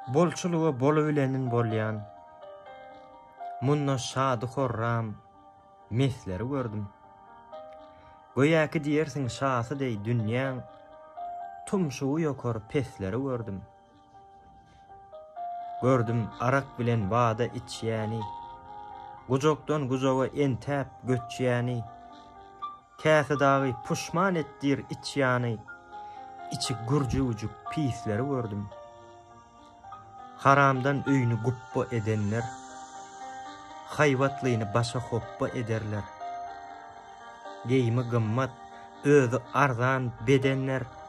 Bolçulyga bol bilenin bolýan. Munda şady-horram, mesleri gördüm. Göýäki diýersiň şasy deý dünýäň, tumşugy ýokar pesleri gördüm. Gördüm arak bilen bada içýäni, Gujakdan gujaga entäp göçýäni, Käsi dagy puşman etdir içýany, Içi gürjüwjik pisleri gördüm. Haramdan öýüni gupba edenler, Haýbatlyny başa hopba ederler. Geýimi gymmat, özi arzan bedenler,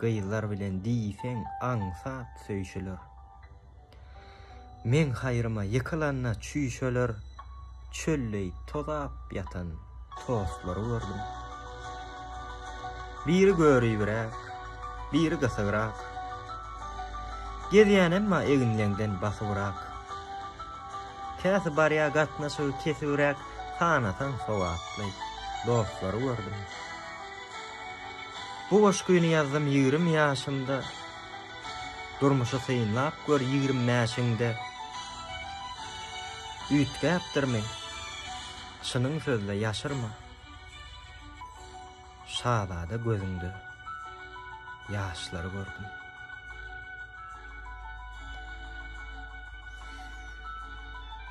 Gyzlar bilen diýseň aňsat söýşüler. Meň haýryma ýykylanda çüýşeler, Çölleý tozap ýatan tostlary gördüm. Biri göribräk, biri gysygrak, Gezýän emma eginleňden basybrak. Käsi barýa gatnaşygy kesibräk, Sanasaň sogaply dostlary gördüm. Bu goşgyny ýazdym ýigrim ýaşymda Durmuşy synlap gör ýigrim bäşiňde Üýtgäpdirmi? Çynyň sözle ýaşyrma Şazada gözüňde ýaşlary gördüm.